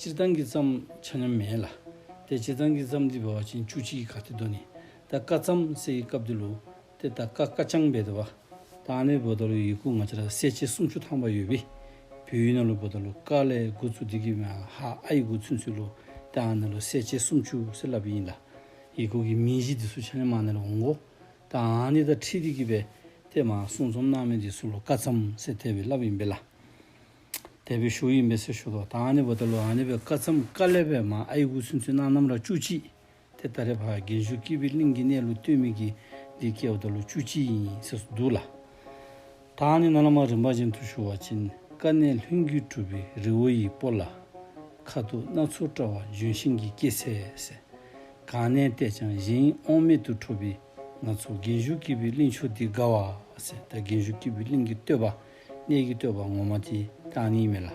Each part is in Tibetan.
སྤྱིར་བཏང་གི་བརྩམས་ཆ་ནི་མེད་ལ། དེ་སྤྱིར་བཏང་གི་བརྩམས་འདི་བའོ་ཅན་བཅུ་གཅིག་གི་ག་ཏི་དོ་ནི། ད་ཀ་བརྩམས་སའི་སྐབས་འདི་ལོ། དེ་ད་ཀ་ཀ་ཅང་བས་དེ་བ། དང་ནི་བོད་དོ་ལོ་ཡི་གུ་ང་ཅ་ར་སེ་བཅས་སུམ་ཅུ་ཐང་བ་ཡོད་བི། བུའི་ཡུལ་ན་ལོ་བོད་དོ་ལོ་ཀ་ལའི་གུ་ཚུ་དི་གི་བའང་ཧ་ཨ་ཡི་གུ་ཚུན་ཚུད་ལོ། དང་ནི་ལོ་སེ་བཅས་སུམ་ཅུ་སེ་ལབ་ཡིན་ལ། ཡི་གུ་གི་མིང་གཞི་དི་སུ་ཆ་ནི་མ་ནི་ལ་འོང་གོ། དང་ནི་ད་ཁྲི་དི་གི་བས་དེ་མ་སུང་ཚོམ་ནང་མི་དི་སུ་ལོ་ཀ་བརྩམས་སའི་དེ་བས་ལབ་ཡིན་བི་ལ། འདས་པའི་ཞུ་ཡིག་མེ་སེར་ཞུ་ལོ་དང་ཨ་ནེ་བོ་ཏེ་ལོ་ཨ་ནེ་བོའི་བཀའ་ཚམ་བཀའ་ལས་པའི་མ་ཨ་ཡི་འུ་སུན་ཚུན་ནང་རྣམ་རག་བཅུ་གཅིག་དེ་ལྟ་རེ་བར་རྒན་གཞོན་སྐྱིད་པའི་གླིང་གི་གནས་ལུགས་སྟོན་མི་གི་འདི་སྐད་བོ་ཏེ་ལོ་བཅུ་གཅིག་ཡིན་ཟེར་སུ་འདུག་ལ། ད་ཨ་ནེ་ནང་ལ་མ་རིན་པ་ཅན་དུ་ཞུ་བ་ཅིན་དཀའ་གནས་ལྷུན་རྒྱུད་གྲུབ་པའི་རི་བོ་ཡི་སྤོ་ལ། ཁ་ཐུག་སྣ་ཚོགས་བཀྲ་བ་ལྗོན་ཤིང་གི་སྐྱེད་ཚལ་ཟེར། གང་གནས་བལྟས་ཀྱང་གཞན་དབང་མེད་དུ་འཕྲོ་བའི་ང་ཚོ་རྒན་གཞོན་སྐྱིད་པའི་གླིང་ཆུ་འདི་དགའ་བ་ཟེར་ད་རྒན་གཞོན་སྐྱིད་པའི་གླིང་གི་བསྟོད་པ་གནས་ཀྱི་བསྟོད་པ་ངོ་མ་དེ་དག་གཉིས་མེད་ལ།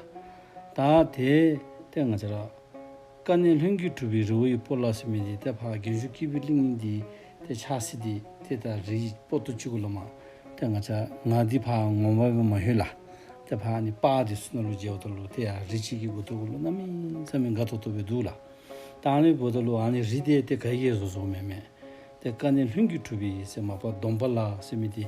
ད་དེའི་ལྟས་ང་ཅག། ཀ་ནས་ལྷུན་གྱིས་གྲུབ་པའི་རི་བོ་ཡི་སྤོ་ལ་སི་མི་འདི་ལྟས་འཕགས་རྒན་གཞོན་སྐྱེས་བུའི་གླིང་གཉིས་འདི་ལྟས་ཆགས་སྲིད་དེ་དེ་ལྟ་རི་ཡི་སྤོ་ཏོ་གཅིག་གུ་ལ་མ། ལྟས་ང་ཅག་ང་འདི་འཕགས་ངོ་བ་བས་མ་ཤོད་ལ། ལྟས་འཕགས་ནི་དཔའ་དེ་སུ་ན་ལུ་རྗེ་བོ་ད་ལུ་དེ་ཡ་རི་གཅིག་གི་གུ་ཏོ་གུ་ལུ་རྣམ་སྨིན་མཚམས་མི་འགའ་ཐོ་ཐོ་བས་འདུག་ལ། ལྟང་ལི་བོ་ད་ལུ་ཨ་ནི་རི་དེ་ལྟས་ག་ཡེ་ཟོ་ཟོ་མེད་མེད་ལྟས་ཀ་ནས་ལྷུན་གྱིས་གྲུབ་པའི་སེ་མ་པ་སྡོམ་པ་ལ་སི་མི་དེ།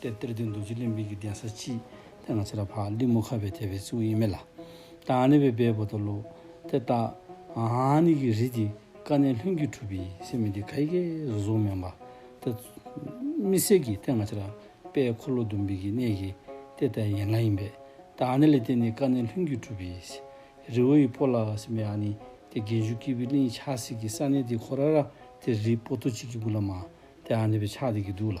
དེར་གཏེར་སྟོན་རྡོ་རྗེ་གླིང་དཔལ་གྱི་གདན་ས་ཅི། དེ་ང་ཚེ་རབས་འཕགས་འདི་མོ་ཁ་བའི་ཐེ་བའི་གཙུག་གཡེལ་མེ་ལ། ཏཱ་ནི་བའི་སྦས་བོ་དོ་ལོ། དེ་ལྟ། ཨ་ནི་གི་རི་དེ་ཀ་ནས་ལྷུན་གྱིས་གྲུབ་པའི་སེ་མི་དེ་ཁ་ཡི་ཀའི་རུ་གཟུགས་སྨན་པ། དེ། མི་སེར་གྱི་དེ་ང་ཚེ་རབས་དཔལ་འཁོར་ལོ་ཟླུམ་བིས་ཀྱི་གནས་ཀྱི་དེ་ལྟ་ཡན་ལག་ཡིན་པས། ཏཱ་ནི་ལི་དེ་ནི་ཀ་ནས་ལྷུན་གྱིས་གྲུབ་པའི་སེ། རི་བོ་ཡི་པོ་ལ་སེམས་པའི་ཨ་ནི་དེ་རྒན་ཞུགས་སྐྱིད་པའི་གླིང་ཆགས་སྲིད་ཀྱི་ས་ནི་དེ་ཁོ་ར་ར་དེ་རི་པོ་ཏོ་གཅིག་གི་གུ་ལ་མ། དེ་ཨ་ནི་བའི་ཕྱག་དེ་གི་དུག་ལ།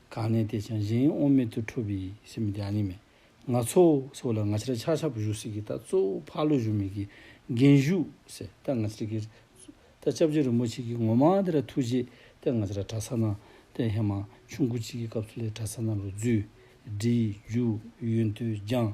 གང་ནས་བལྟས་ཀྱང་གཞན་དབང་མེད་དུ་འཕྲོ་བའི་སེམས་རྒྱ་ནི་མེད། ང་ཚོ་སོགས་ལ་ང་ཕྱིར་ཆག་ཆག་པོ་ཞུ་སྲིད་ཀྱི་ད་གཙོ་བོ་ཕག་ལོ་བཞུགས་མེད་ཀྱི་རྒན་བཞུགས་ཟེར་ད་ང་ཚོ་གིར་ད་སྐྱབས་རྗེ་རིན་པོ་ཆེ་གིས་ངོ་མ་དེ་ར་ཐུགས་རྗེ་ད་ང་ཚོ་ར་གྲྭ་ས་ན་ད་ཧེ་མ་ཆུང་ཁུ་གཅིག་གི་སྐབས་སུ་ལས་གྲྭ་ས་ན་རུ་བརྫུས། སྒྲིལ། རྒྱུགས། ཡུན་དུ་སྦྱངས།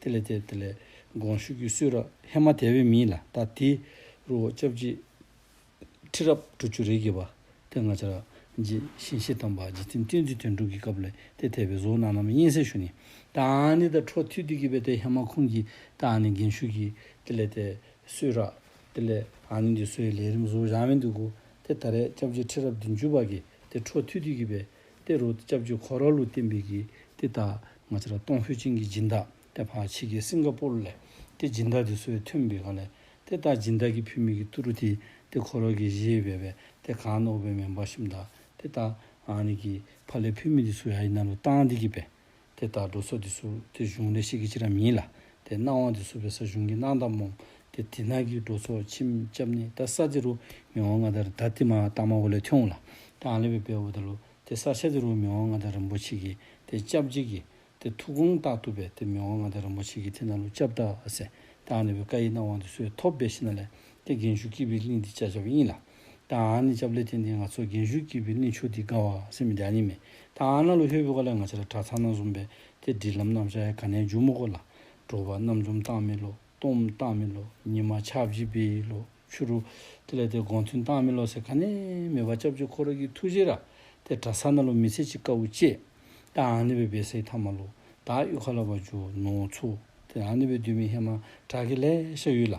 དེ་ལས་དེ་ལས་དགོངས་ཞུ་རྒྱུའི་སུས་རག་ཧེ་མ་དེ་བའི་མིན་ལ་ད་དེ་རུ་བ་ཅབ་ཅི་ཁྲི་རབ་དྲུ་བཅུ་རེ་གི་བ་དེ་ང་ཅ་རག་རྗེ་བཞེན་བཞེས་དམ་པ་རྗེ་བཙུན་བསྟན་འཛིན་དོན་གྲུབ་ཀྱི་སྐབས་ལས་དེ་དེ་བའི་བཟོ་གནང་ནམ་སྙན་སེང་ཞུ་ནི་ད་ཨང་ནི་ད་འཕྲོ་མཐུད་དུས་ཀྱི་བའི་དེ་ཧེ་མ་ཁུང་གི་ད་ཨང་ནི་འགན་ཞུ་གི་དེ་ལས་དེ་སུས་རག་དེ་ལས་ཨང་ནི་འདི་སུའི་ལས་རིམ་བཟོ་བཞག་མི་འདུག་གོ་དེ་ད་རེ་ཅབ་ཅི་ཁྲི་རབ་བདུན་ཅུ་བ་གི་དེ་འཕྲོ་མཐུད་དུས་ཀྱི་བའི། ཏེ་རུ་ལྕགས་ཀྱུ་གྷོ་ར་ལུ་བསྟན་པའི་གིས་ཏེ་ད་ང་ཅི་ར་ཏོང་ཧུའེ་ཅིང་གི་སྦྱིན་བདག་ཏེ་ཕ་ཕྱི་གི་སིང་ག་པོར་ལས་ཏེ་སྦྱིན་བདག་དེ་སོའི་མཐུན་པའི་གང་ལས་ཏེ་ད་སྦྱིན་བདག་གི་བུད་མེད་གི་ཏུ་རུ་ཏི་ཏེ་གྷོ་ར་གི་གཞི་བས་བས་ཏེ་གང་ནོ་བས་མེན་པ་ཤིམ་བདག་ཏེ་ད་ཨ་ནི་གི་ཕ་ལས་བུད་མེད་དེ་སུའི་ཨ་ཡི་རྣམ་རོལ་ཏང་དེ་གི་བས་དེ་ལྟར་འགྲོ་སོགས་དེ་སུ་དེ་གཞུང་ལས་ཤེས་ཀྱི་ཕྱིར་རམ་ཡིན་ལ། དེ་སྣང་བ་དེ་སུ་བའི་ས་གཞུང་གི་སྣང་དང་རྨོངས། དེ་དེ་སྣང་གི་འགྲོ་སོགས་ཕྱིན་སྐྱབས་ནི་ད་ས་དེ་རུ་མི་འོང་ང་དང་ད་དེ་མ་བཏང་མ་འོ་ལས་ཐོན་འོང་ལ། དེ་ཨང་ལས་བའི་བའི་འོ་ད་ལོ། དེ་ས་ཆ་དེ་རུ་མི་འོང་ང་དང་རིན་པོ་ཆེ་གི། དེ་སྐྱབས་འཇིག་གི། དེ་ཐུགས་དགོངས་རྟག་ཐུབ་པས་དེ་མི་འོང་ང་དང་རིན་པོ་ཆེ་གི་དེ་ན་ལོ་སྐྱབས་བདག་ཨ་སེ། དེ་ཨང་ལས་བའི་བཀའ་ཡི་སྣང་བ་དེ་སུ་བས་ཐོབ་བས་ཤི་ན་ལས། དེ་རྒན་ཞུགས་སྐྱིད་པའི་གླིང་འདི་ལྕགས་ཆབ་དབྱིངས་ལ། ད་ཨ་ནི་ལྕབ་ལེ་ཐེན་ཐེན་ང་ཚོ་རྒན་ཞུགས་སྐྱིད་པའི་གནས་ཆུ་འདི་དགའ་བ་སེམས་མི་དགའ་ཉེས་མེད་ད་ཨ་ན་ལོ་ཧེ་བོད་ཀ་ལས་ང་ཆ་ལ་གྲ་ཚང་ན་ཟུམ་པའི་དེ་འདྲིས་ལམ་རྣམ་ཤ་ཡ་ག་ནའི་འཇུག་མོ་ཀོ་ལ་འགྲོ་བ་རྣམ་འཛོམས་སྟངས་མེད་ལོ་སྟོང་སྟངས་མེད་ལོ་ཉི་མ་ཆ་བཞི་པའི་ལོ་ཆུ་རུ་དེ་ལ་དེ་དགོང་ཐུན་སྟངས་མེད་ལོ་ཟེར་ག་ནས་མེད་བ་ལྕབ་ལྕེ་ཁོ་ར་གི་ཐུགས་རྗེ་ར་དེ་གྲ་ཚང་ན་ལོ་མི་ཚེ་གཅིག་དཀའ་བོ་སྐྱེས་ད་ཨ་ནི་བའི་བེ་སེ་ཐ་མ་ལོ་ད་ཨ་ཨུ་ཁ་ལ་བ་ཇོ་ནོ་ཚོ་དེ་ཨ་ནི་བའི་བདུད་མི་ཧེ་མ་གྲ་གི་ལས་ཤ་ཡུལ་ལ་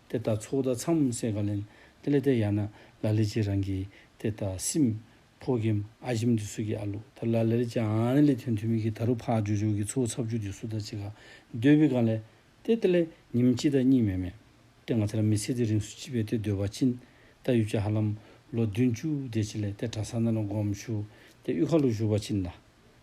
དེ་ལྟར་ཚོགས་བདག་ཚངས་བུམ་སེང་ག་ལན། ཏེ་ལེ་ཏེ་ཡ་ན་ལ་ལེ་ཅི་རང་གིས་ཏེ་ད་སིམ། ཕོ་གིམ་ཨ་ཞིམ་དི་སུ་གི་ཨ་ལུ་ད་ལ་ལེ་རེ་ཅི་ཨ་ནི་ལེ་ཐུན་ཐུན་མི་གི་ད་རུ་ཕ་ཨ་ཇོ་ཇོ་གི་ཚུ་བོ་ཚབ་ཆུ་དི་སུ་ད་ཅི་ག་འདོད་བི་ག་ལེ། ཏེ་ཏེ་ལེ་ཉིམ་ཅི་ད་གཉིས་མེ་མེ། ཏེ་ང་ཚ་ར་མི་ཚེ་དི་རིང་སུ་ཅི་བེ་ཏེ་འདོད་བ་ཅིན། ད་ཡུ་ཅ་ཧ་ལམ། ལོ་བདུན་ཅུ་དེ་ཅི་ལེ་ཏེ་གྲ་ས་ན་ལ་འགོམ་ཞུ། ཏེ་ཨུ་ཁ་ལུ་ཞུ་བ་ཅིན་ད།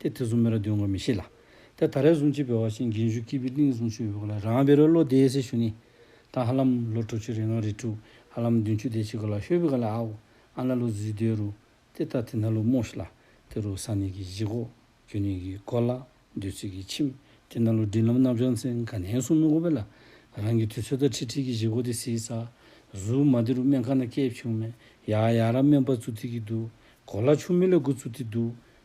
དེ་དེ་གསུམ་མེ་ར་འདོན་དགོས་མི་ཤེས་ལ། དེ་ད་རེས་གསུང་ཆེད་བོད་བ་ཞིན་དགེན་ཞུ་སྐྱིད་པི་ཏིང་གསུང་ཆོས་ཡོད་གོ་ལ་རང་བེ་རོའི་ལོ་དེའི་སེ་ཞུ་ནི། ད་ཧ་ལམ་ལོ་དྲུག་ཅུ་རེ་ང་རེ་དྲུག་ཧ་ལམ་བདུན་ཅུ་དེ་བྱེད་གོ་ལ་ཤོད་བི་ག་ལ་ཨའོ་ཨ་ན་ལོ་བཟི་དོའི་རུ། དེ་ད་དེ་ན་ལོ་མོ་ཤི་ལ། དེ་རུ་ས་ནི་གི་གཞི་གོ། རྒྱུ་ནི་གི་གོ་ལ། འདོད་ཚིག་གི་ཁྱིམ། དེ་ན་ལོ་འབྲིང་ལམ་རྣམ་བྱང་ཚན་ག་ནན་གསུང་མི་གོ་བེ་ལ། རང་གི་དུས་ཚོད་ད་ཁྲི་ཁྲི་གི་གཞི་གོ་དེ་སིའི་ས། གཟུག་མ་དེ་རུ་སྨན་ཁ་ན་སྐྱེས་བྱུང་མེད་ཡ་ཡ་ར་སྨན་པ་ཚུ་ཐི་གི་དུ། གོ་ལ་ཆུ་མི་ལ་གུ་ཚུ་ཐི་དུ།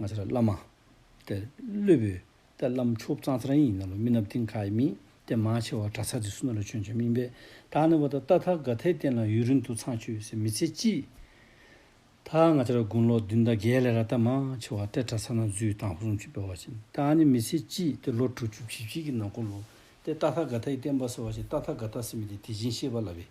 ང་ཚ་ར་བླ་མ། ཏེ། ཀླུ་བོས། ཏེ། བླ་མཆོག་བུ་གཙང་ཚ་ར་ཡིན་ནོ་ལོ་སྨི་ནབ་ཏིང་ཁ་ཡི་སྨི། ཏེ། མ་ཆེ་བ་གྲ་ཚ་རྫི་སུ་ན་ལོ་ཆོན་ཆོན་སྨིན་པས། ད་ནི་བ་ད་རྟ་ཐ་ག་ཐའི་སྟེང་ལ་ཡུན་རིང་དུ་ཚང་ཆུ་སེ་མི་ཚེ་སྐྱིད། ད་ང་ཚ་ར་དགུང་ལོ་བདུན་ད་རྒས་ལས་ར་རྟ་མ་ཆེ་བ་ཏེ་གྲ་ཚ་ན་རྫུའི་ཐང་ཧུ་རུང་ཆུ་སྤེལ་བ་བཞིན་ད་ནི་མི་ཚེ་སྐྱིད་ཏེ་ལོ་དྲུག་ཅུ་བཞི་བཞི་གི་ནང་གོ་ལུ། ཏེ་རྟ་ཐ་ག་ཐའི་སྟེང་བ་སེ་བ་ཞིག་རྟ་ཐ་ག་ཐ་སེ་མི་དེ་དེ་བཞིན་གཤེགས་པ་ལ་བས།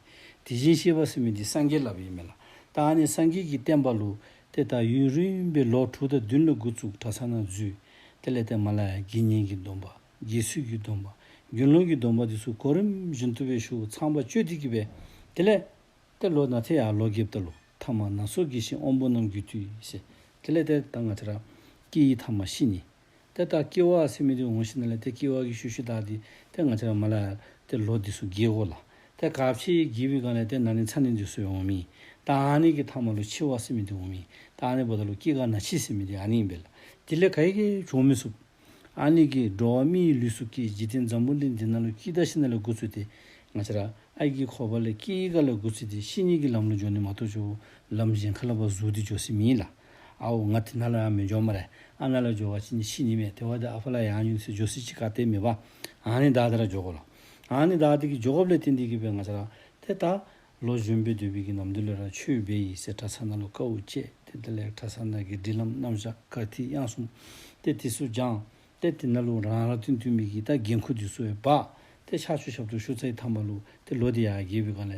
དེ་བཞིན་གཤེགས་པ་སེ་མི་དེ་སངས་རྒྱས་ལ་བས་མེ་ལ། ད་ནི་སངས་རྒྱས་ཀྱི་བསྟན་པ་ལུ། དེ་ལྟར་ཡུན་རིང་བའི་ལོ་དྲུག་དང་བདུན་ལ་དགུ་བཙུགས་གྲྭ་ཚང་ནང་འཛུལ། དེ་ལས་བརྟེན་མ་ལ་ཡ་དགེ་བསྙེན་གྱི་སྡོམ་པ། རྗེས་སུ་ཡི་སྡོམ་པ། རྒྱུན་ལོངས་ཀྱི་སྡོམ་པ་འདི་ཚོ་གོ་རིམ་བཞིན་ཐུབ་པའི་ཤུགས་ཚངས་པ་སྤྱོད་འདི་གྱིས་པས། དེ་ལས། ཏེ་ལོ་ན་ཚེ་ཡར་ལོ་བརྒྱད་བརྟ་ལོ་ཐ་མ་ན་སོ་དགེ་བཤེས་དབོན་པོ་རྣམས་རྒྱུད་དུས་ཞེས། དེ་ལས་ཏེ་ད་སྔ་ཚེ་རབས། སྐྱེས་ཡི་དྭགས་མ་ཤི་ནི། དེ་ལྟར་སྐྱེ་བ་སེམས་མི་རིགས་འོང་ཤེས་ན་ལས་དེ་སྐྱེ་བ་གི་ཤུལ་ཤུལ་དག་དེ་དེ་ང་ཅག་མ་ལ་དེ་ལོ་འདི་སུ་དགེ་གོ་ལ་དེ་ག་ཕྱིའི་དགེ་བའི་གང་ལས་དེ་ན་ནི་ཚ་ནི་འདི་སུ་འོང་མིན་ད་ཨ་ནི་གི་ཐ་མ་ལོ་འཆི་བ་སེམས་མི་རིགས་འོང་མིན་ད་ཨ་ནི་བ་ད་ལོ་སྐྱེ་ག་ན་འཆི་སེམས་མི་རིགས་ཨ་ནི་ཡིན་པས་ལ་དེ་ལས་ག་ཡི་གེ་བྱུང་མི་སུབ། ཨ་ནི་གི་འགྲོ་བ་མི་ཡི་ལུས་སུ་སྐྱེ་འཇིག་རྟེན་འཛམ་བུ་འདི་འདི་ན་ལོ་སྐྱིད་ད་ཤི་ན་ལས་དགུ་ཚུལ་དེ་ང་ཅག་ཨ་ཡི་གི་འཁོར་བ་ལས་སྐྱེ་ཡི་ག་ལས་དགུ་ཚུལ་དེ་ཤི་གཉིས་ཀྱི་ལམ་ལོ་འཇོག་ནི་མ་གཏོགས་ཆུ་བོ་ལམ་གཞན་ག་ལ་བ་གཟུགས་འདི་འཇོག་སྲིད་མིན་ལ། ཨའོ་ང་དེ་ན་ལ་ཡང་མི་འབྱོར་མ་རེད་ཨ་ན་ལ་འབྱོར་བ་ཅི་ནི་ཤི་ནི་མེད་དེ་བ་དེ་ཨ་ཕ་ལ་ཡང་ཉུང་ཟེར་འབྱོར་སྲིད་ཅི་ག་དེ་མི་བ་ཨ་ནི་ད་དེ་ར་འབྱོར་གོ་ལ་ཨ་ནི་ད་དེ་གི་འབྱོར་གོ་བླེ་དེ་འདི་གི་བས་ང་ཚ་ར་དེ་ད་ལོ་གཞོན་པའི་དུས་བི་གི་ནམ་དུ་ལེ་ར་ཆུ་བེ་ཡི་སེ་ཁྲ་ཚ་ན་ལོ་ཀ་འུ་ཅེ་དེ་དེ་ལེགས་ཁྲ་ཚ་ན་གི་འབྲི་ལམ་རྣམ་བཞག་ཀ་དྷི་དབྱངས་གསུམ་དེ་དེ་སུ་སྦྱངས་དེ་དེ་ན་ལུག་རང་ར་དེ་འདུས་མི་གི་ད་རྒན་ཁུ་དེ་སུ་བས་བ་དེ་ཆག་ཆུ་ཞབས་ཏུ་ཤུ་ཚ་ཡི་ཐ་མ་ལུག་དེ་ལོ་དེ་ཡ་རྒྱལ་བི་ག་ལེ་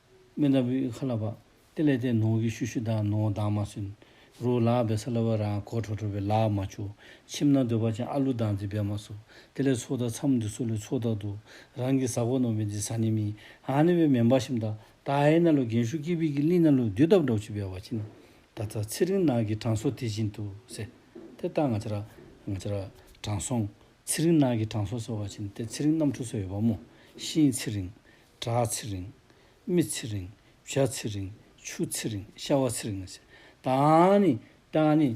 སྨན་ལྟ་བུའི་ཁ་ལ་བབ། དེ་ལས་དེ་ནོངས་ཀྱི་ཤུ་ཤུ་དང་ནོངས་དང་མ་སུན། རུ་ལག་བེ་སཱ་ལ་བ་རང་གོ་ཁྲོ་ཁྲོ་བའི་ལག་མ་ཆུ། མཆིམས་ན་འདོད་པ་ཅན་ཨ་ལུ་དང་ཛི་བེ་མ་སུ། དེ་ལས་ཚོགས་དང་འཚམས་འདི་སུ་ལུས་ཚོགས་དག་ཏུ། རང་གི་ཟག་པ་ནོངས་པའི་འདི་ཟ་ནི་མིན། ཧ་ནི་བའི་མེ་འབར་ཤིམ་ད། ད་ཧའི་ན་ལུ་རྒན་ཤུ་ཀི་བི་ཀི་ལི་ན་ལུ་དུས་བཏབ་འབྲོག་བྱི་བའི་བ་ཅི་ན། ད་ད་ཚེ་རིང་ནགས་ཀྱི་གྲང་སོ་དེ་བཞིན་དུ་ཟེ། དེ་ལྟར་ང་ཅ་ར། ང་ཅ་ར། དྲང་སྲོང། ཚེ་རིང་ནགས་ཀྱི་གྲང་སོ་ཟེར་བ་ཅི་ན་དེ་ཚེ་རིང་གནམ་གྲུ་སོགས་ཡོད་པ་མོ། ཤིང། ཚེ་རིང། བྲག་ཚེ་རིང། རྨི་ཚེ་རིང། བྱ་ཚེ་རིང། ཆུ་ཚེ་རིང། ཤ་བ་ཚེ་རིང། དང་ནི། དང་ནི།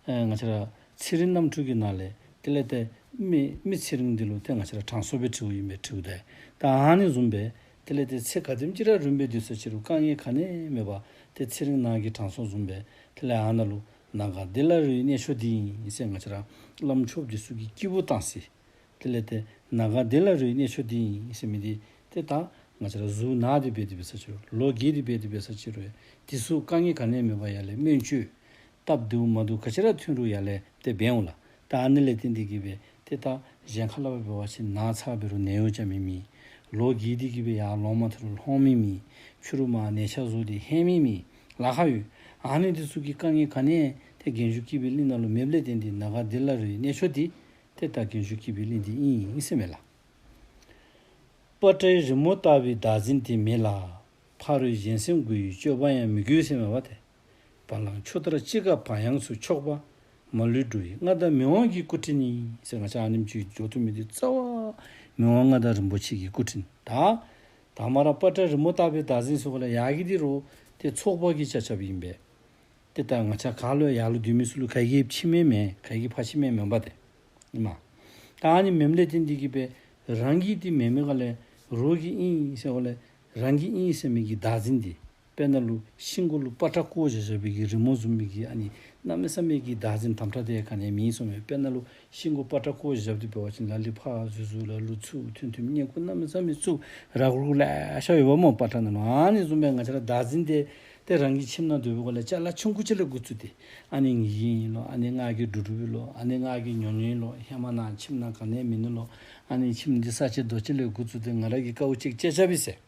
ང་ཕྱི་ར། ཚེ་རིང་རྣམ་འཕྲུལ་གྱི་ནང་ལས། དེ་ལས་ཏེ། རྨི། རྨི་ཚེ་རིང་འདི་ལོ་ཏེ་ང་ཕྱི་ར་གྲངས་གསོ་བའི་ཁྲིའུ་ཡིན་པས་ཁྲིའུ་དེ། དང་ནི་འཛུམ་པས། དེ་ལས་ཏེ་ཚེ་ག་ཏིམ་ཅི་ར་རུན་པའི་དུས་སུ་ཕྱི་རུ་རྐང་གཉིས་ག་ནས་རྨི་བ། དེ་ཚེ་རིང་ནང་གི་གྲངས་གསོ་འཛུམ་པས། དེ་ལས་ཨ་ན་ལུ། ནང་ག་འདི་ལ་རུའི་གནས་ཆོ་འདི་ཡིན། སེ་ང་ཕྱི་ར། བླ་མཆོག་གི་གསུར་གྱི་སྐྱེས་བུ་དང་སྲིད། དེ་ལས་དེ་ན་ག་དེ་ལ་རུའི་གནས་ཆུ་འདི་ཡིན་ཞེས་མི་འདི་དེ་དག་ང་ཅི་ལ་གཟུགས་ན་དེ་བས་དེ་བས་ས་ཆུ་ལོ་གེ་དེ་བས་དེ་བས་ས་ཆི་རུ་དེ་གཟུགས་དཀའ་ངལ་ག་ནས་མེད་པ་ཡ་ལས་སྨོན་བཅོས་སྟབས་བདེ་བོ་མ་འདུག་ག་ཅི་ར་ཐུན་རུ་ཡ་ལས་དེ་བས་འོ་ལ་ད་ཨ་ནི་ལས་དེ་འདི་གི་བས་དེ་དག་གཞན་ཁ་ལ་བ་བས་བ་ཆི་ན་ཚ་བས་རུ་ནས་འོ་ཅག་མི་མི་ལོ་གེ་དེ་གི་བས་ཡ་ལོང་མ་དེ་རུ་ལྷོང་མི་མི་ཆུ་རུ་མ་ནས་ཆ་གཟུགས་དེ་ཧན་མི་མི་ལ་ཁ་ཡོད་ཨ་ནི་དེ་གཟུགས་ཀི་དཀའ་ངལ་ག་ནས་དེ་རྒན་ཞུགས་ཀི་བས་གླིང་ན་ལོ་མེབ་ལས་དེ་འདི་ན་ག་དེ་ལ་རུའི་གནས་ཆུ་འདི་དེ་ལྟར་རྒན་གཞོན་སྐྱིད་པའི་གླིང་འདི་དབྱིངས་ཡིན་དབྱིངས་སེ་མེད་ལ། སྤ་ཏྲའི་རི་མོ་ལྟ་བུའི་བདག་འཛིན་དེ་མེད་ལ། ཕ་རོལ་གཞན་སེམས་དགུ་ཡི་སྤྱོད་པ་ཡང་མི་དགོས་སེ་མེད་པ་དེ། བ་ལང་ཆུ་ལྟར་ཅི་དགའ་བག་ཡངས་སུ་ཕྱོགས་པ། མ་ལུས་འགྲོ་ཡི་མངའ་བདག་མི་དབང་གི་སྐུ་དྲིན་ཡིན་སེ་ང་ཅག་ཨ་ནེམ་ཅུའི་སྦྱོར་ཐུབ་མི་དེ་རྩ་བ། མི་དབང་མངའ་བདག་རིན་པོ་ཆེ་གི་སྐུ་དྲིན་དག། དག་མ་ར་སྤ་ཏྲའི་རི་མོ་ལྟ་བུའི་བདག་འཛིན་སོགས་ལ་ཡག་གི་དེ་རུ། དེ་ཚོགས་དཔག་གི་ཆ་ཆབ་ཡིན་པས། དེ་ལྟར་ང་ཆ་ག་ལོའི་ཡར་ལོ་དུས་མི་སུ་ལུ་ག་གི་ཕྱི་མའི་མེ་ག་གི་ཕ་ཕྱི་མའི་མོན་པ་དེ། ཨི་མ། ད་ཨ་ནི་མེམ་ལེ་ཏི་འདི་གི་པེ་རང་གིས་ཏི་མེ་མེ་ག་ལེ་རོ་གི་ཨིན་སེ་ག་ལེ་རང་གི་ཨིན་སེ་མེ་གི་བདག་འཛིན་འདི་པེ་ན་ལུ་ཤིང་གོ་ལུ་པ་ཏྲ་ཀོ་བྱ་བྱ་བི་གི་རི་མོ་ཟུམ་མི་གི་ཨ་ནི་ན་མེ་ས་མེ་གི་བདག་འཛིན་དམ་ཏྲ་དེ་ག་ནས་མིན་སོང་བའི་པེ་ན་ལུ། ཤིང་སྒོ་སྤ་བྲག་ཁོག་བཞབས་ཏེ་བོད་བྱིན་ལ་ལི་ཕག་གཟུགས་གཟུགས་ལ་ལུ་ཚུགས་ཐུན་ཐུན་སྙེ་ཁུ་སྣ་མི་ཚ་མི་ཚུགས་ར་ཁུར་ཁུར་ལས་ཤ་ཡོ་བ་མོ་སྤ་ཁྲ་ནི་མ་ནི་བཙུམ་པའི་ང་ཆ་ལ་བདག་འཛིན་ཏེ་ཏེ་རང་གི་ཁྱིམ་ན་འདོད་བུ་གོ་ལ་ཅག་ལ་ཆུང་ཁུ་ཆེ་ལ་དགུ་ཚུད་ཏེ་ཨ་ནི་ངི་ཡིན་ཡིན་ལོ་ཨ་ནི་སྔགས་ཀྱི་འབྲུ་འབྲུ་བུ་ལོ་ཨ་ནི་སྔགས་ཀྱི་ཉོ་ཉོ་ཡིན་ལོ་ཧེ་མ་ནག་ཁྱིམ་ན་ག་ནས་མི་ནུ་ལོ་ཨ་ནི་ཁྱིམ་འདི་ས་ཆེ་རྡོ་ཆེ་ལས་དགུ་ཚུད་ཏེ་ང་ར་གི་ཀ་བུ་གཅིག་ཅེ་ཆ་བི་ཟེར།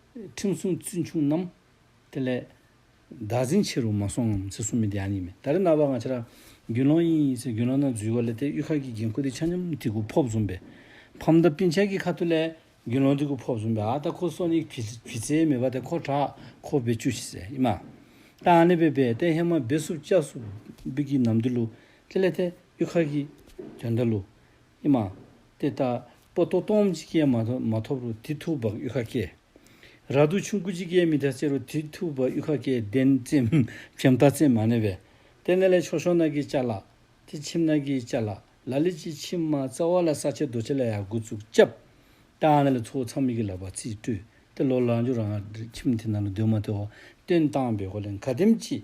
ཁྲིམས་སྲུང་བཙུན་ཆུང་རྣམས། དེ་ལས། བདག་འཛིན་ཆེ་རུ་མ་སོང་ངམ་ཚེ་གསུམ་མི་དེ་ཡང་ཉིད་མིན་ད་རེ་ན་བ་འང་ཕྱི་ར། རྒྱུན་ལོང་ཡིན་ཡིན་ཟེར་རྒྱུན་ལོང་ན་འཛུལ་བ་ལས་དེ་གཡུལ་ཁ་གི་འགན་ཁུར་དེ་ཆ་སྙོམས་དེ་ཁུ་ཕོབ་བཟུང་པས། ཕམ་མདའ་པིན་ཆལ་གྱི་ཁ་ཐུ་ལས། རྒྱུན་ལོང་དེ་ཁུ་ཕོབ་བཟུང་པས་ཨ་ད་ཁོ་སོ་ནི་བི་བྱའི་མི་བ་དེ་ཁོ་གྲག་ཁོ་བེད་སྤྱོད་བྱེད་ཟེར་ཨི་མ། ད་ཨ་ནི་བེད་བེད་ཏེ་ཧེ་མ་བེད་སུབ་ལྕགས་སུབ་བེད་ཀྱི་ནམ་དུ་ལུ། དེ་ལས་དེ་གཡུལ་ཁ་གི། དོན་དུ་ལུ། ཨེ་མ། དེ་ལྟ་སྤོ་ཏོ་སྟོང་འཇིགས་སྐྱེལ་མ་ཐོབ་མ་ཐོབ་རུ་དེ་ཐུགས་བག་གཡུ་ཁ་སྐྱེལ། ར་དུ་ཆུང་སྐུ་འཇིགས་སྐྱེལ་མི་ཐ་ཆེ་རུ་དེ་ཐུགས་བག་གཡུ་ཁ་སྐྱེལ་བདེན་བཙན་བྱམས་ཐ་ཚིག་མ་ནས་བས། དེ་ནས་ལས་ཆོག་ཤོག་ནག་གི་བཅའ་ལག། དེ་ཆིབས་ནག་གི་བཅའ་ལག་ལ་ལས་ཅི་ཆིབས་མ་རྩ་བ་ལ་ས་ཆེ་རྡོ་ཆེ་ལ་ཡ་དགུ་ཚུགས་བཅབ། ད་ནས་ལས་ཚོགས་ཚང་མིག་གི་ལག་པ་རྩིས་བཀྲུས་ཏེ་ལོ་ལ་འཇུག་རང་ཆིབས་དེ་ནང་ལ་འདུས་མ་ཐོ་བ་སྟོན་བཏང་བས་གོ་ལས་མཁའ་ལྡེམ་གྱིས།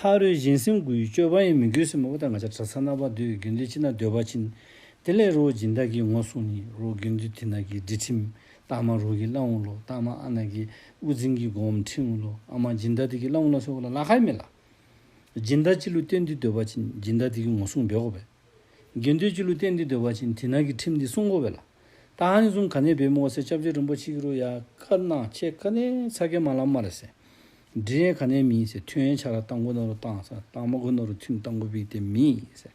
ཕ་རོལ་གཞན་སེམས་དགུའི་སྤྱོད་པ་ཡིན་མིན་དགོས་སེམས་མོ་ད་ང་ཅག་གྲྭ་ཚང་རྣམ་པ་འདོད་རྒྱུ་འདི་ཅི་ན་འདོད་པ་ཕྱིན། དེ་ལས་རོ་སྦྱིན་བདག་གིས་ངོ་སྲུང་ནི་རོ་དགེ་འདུན་དེ་ན་གི་འདྲི་ཁྲིམས་སྟག་མ་རུ་གི་བླ་འུ་ལོ་སྟག་མ་ཨ་ན་གི་དབུ་འཛིན་གི་སྒོ་འམ་ཁྲིན་འུ་ལོ་ཨ་མ་སྦྱིན་བདག་དེ་གི་བླ་འུ་ལ་སོགས་ལ་ལ་ཁ་ཡི་མེ་ལ། སྦྱིན་བདག་སྤྱི་ལུས་གཏེར་འདི་འདོད་པ་ཕྱིན་སྦྱིན་བདག་དེ་གི་ངོ་སྲུང་འབད་དགོས་པས། དགེ་འདུན་གྱི་ལུས་རྟེན་འདི་དོལ་བ་ཅན་དེ་ནང་གི་ཁྲིམས་འདི་སྲུང་འགོ་བས་ལ། ཏཱ་ཧན་གསུམ་ག་ནས་བེ་མོ་བ་སེ་ཅབ་ཅེ་རིན་པོ་ཆེ་ཀི་རུ་ཡ་ཀ་ནག་ཆེ་ཀ་ནས་ཚ་ཀེ་མ་ལ་མ་རེ་སེ། འབྲི་རན་ག་ནས་མིན་སེ་ཐུན་ཡན་ཆ་ར་ཏང་གོ་ནོ་རུ་ཏང་སེ་ཏང་མ་གོ་ནོ་རུ་ཐུན་ཏང་གོ་བི་ཏེ་མིན་སེ།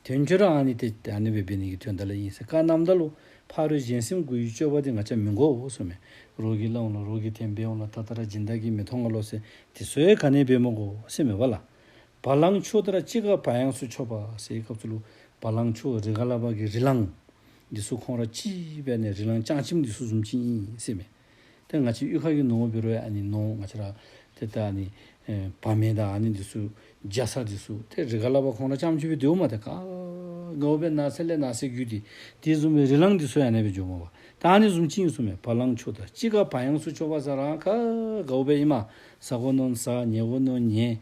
དོན་ཁྱོད་རང་ཨ་ནི་ཏེ་ཨ་ནི་བེ་བེ་ནི་གི་ཐོན་ད་ལ་ཡིན་སེ་ཀ་ནམ་ད་ལུ་ཕ་རོས་གཞན་སེམས་གུ་ཡུས་སྤྱོད་པ་དེ་ང་ཅ་མི་འགོ་བོ་སོ་མེ་རོ་གི་ལ་འོང་ལ་རོ་གི་ཐེན་བེ་འོང་ལ་ད་ད་ར་སྦྱིན་བདག་གི་མི་ཐོ་ང་ལོ་སེ་དེ་སོའི་ག་ནས་བེ་མོ་གོ་སེ་མེ་བ་ལ། བ་ལང་ཆོ་དེ་ར་ཅི་ག་བ་ཡང་སུ་ཆོ་བ་སའི་སྐབས་སུ་ལུ་བ་ལང་ཆོ་རི་ག་ལ་བ་གི་རི་ལང། འདི་སུ་ཁོང་ར་ཅི་བས་ནས་རི་ལང་ལྕང་ཆིམ་འདི་སུ་ཟུམ་ཆིན་ཨིན་སེ་མེ། དེ་ང་ཆི་གཡུ་ཁ་གི་ནོ་ངོ་བི་རོ་ཡ་ཨ་ནི་ནོ་ང་ཆི་ར་དེ་ད་ཨ་ནི་བ་མེ་ད་ཨ་ནི་འདི་སུ་རྒྱ་ས་འདི་སུ་དེ་རི་ག་ལ་བ་ཁོང་ར་ལྕམ་ཆི་བི་དེའུ་མ་དེ་ག་ངོ་བས་ན་སེ་ལེ་ན་སེ་གུ་དི་དི་ཟུམ་བའི་རི་ལང་འདི་སུ་ཡ་ནེ་བི་འཇོ་མོ་བ་ད་ཨ་ནི་ཟུམ་ཆིན་ཨིན་སུ་མེ་བ་ལང་ཆོ་དེ་ར་ཅི་ག་བ་ཡང་སུ་ཆོ་བ་ས་ར་ག་ག་བོ་བས་ཨི་མ་ཟ་གོ་ནོ་ཟ་ཉེ་གོ་ནོ་ཉེ།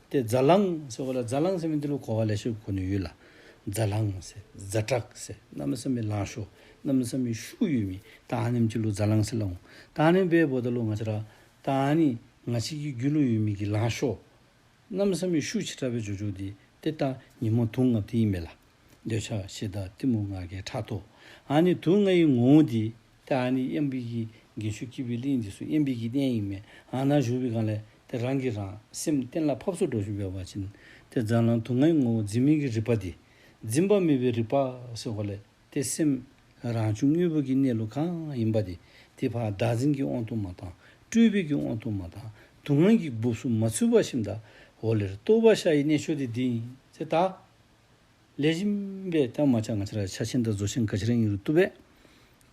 དེ་རྫ་ལང་ཟེར་གོ་ལ་རྫ་ལང་ཟེར་མིན་འདི་ལོ་གོ་བ་ལས་ཤོད་གོ་ནི་ཡོད་ལ། རྫ་ལང་ཟེར་རྫ་བྲག་ཟེར་གནའ་མི་ས་མི་ལང་ཤོ་གནའ་མི་ས་མི་ཤུག་ཡོད་མིན་ད་ཧ་ནིམ་གྱི་ལོ་རྫ་ལང་ཟེར་ལ་འོང་ད་ཧ་ནིམ་པའི་བོ་ད་ལོ་ང་ཆ་ར་ད་ཧ་ནི་ང་ཆི་གི་རྒྱུ་ལོ་ཡོད་མིན་གི་ལང་ཤོ་གནའ་མི་ས་མི་ཤུག་ཆི་ཁྲ་བའི་ཇོ་ཇོ་དེ་དེ་ལྟ་ཉི་མ་དུག་ལྔ་དེ་ཡིན་མེད་ལ། འདོད་ཆགས་ཤེས་བདག་གཏི་མུག་ང་གའི་ཁྲག་ཐོག་ཧ་ནི་དུག་ལྔ་ཡི་ངོ་བོ་འདི་དེ་ཨ་ནི་གཡམ་འབིག་གི་འགན་ཤུགས་ཀྱིས་བི་ལིང་འདི་སུ་གཡམ་འབིག་གི་གཏན་ཡིག་མེད་ཨ་ན་ཞུ་བི་གང་ལས་དེ་རང་གིས་རང་སེམས་གཏན་ལ་ཕབ་སོ་འགྲོ་བཞིན་ཡོད་པ་ཕྱིན་ཏེ་རྫ་ལང་དུ་ངའི་ངོ་བོ་འཛིན་མིན་གྱི་རིག་པ་འདི་འཛིན་པ་མེད་པའི་རིག་པ་ཟེར་བ་ལས་དེ་སེམས་རང་བྱུང་དངོས་པོ་གི་གནས་ལུགས་གང་ཡིན་པ་དེ་དེ་བར་བདག་འཛིན་གྱི་དབང་དུ་མ་དང་སྤྲུལ་བས་ཀྱི་དབང་དུ་མ་དང་སྡུག་བསྔལ་གྱི་སྦུབས་སུ་མ་ཚུད་པ་བཞིན་དག་འོ་ལེར་རྟོགས་པ་ཤ་ཡི་གནས་ཆོས་དེ་འདི་ཡིན་ཚེ་ད། ལས་གཞན་པའི་སྟེང་མ་ཆགས་ང་ཅི་ར་ཆ་ཆེན་དང་བཟོ་ཆེན་ག་ཅི་རིང་ཡིན་རུ་བཏུབ་བས།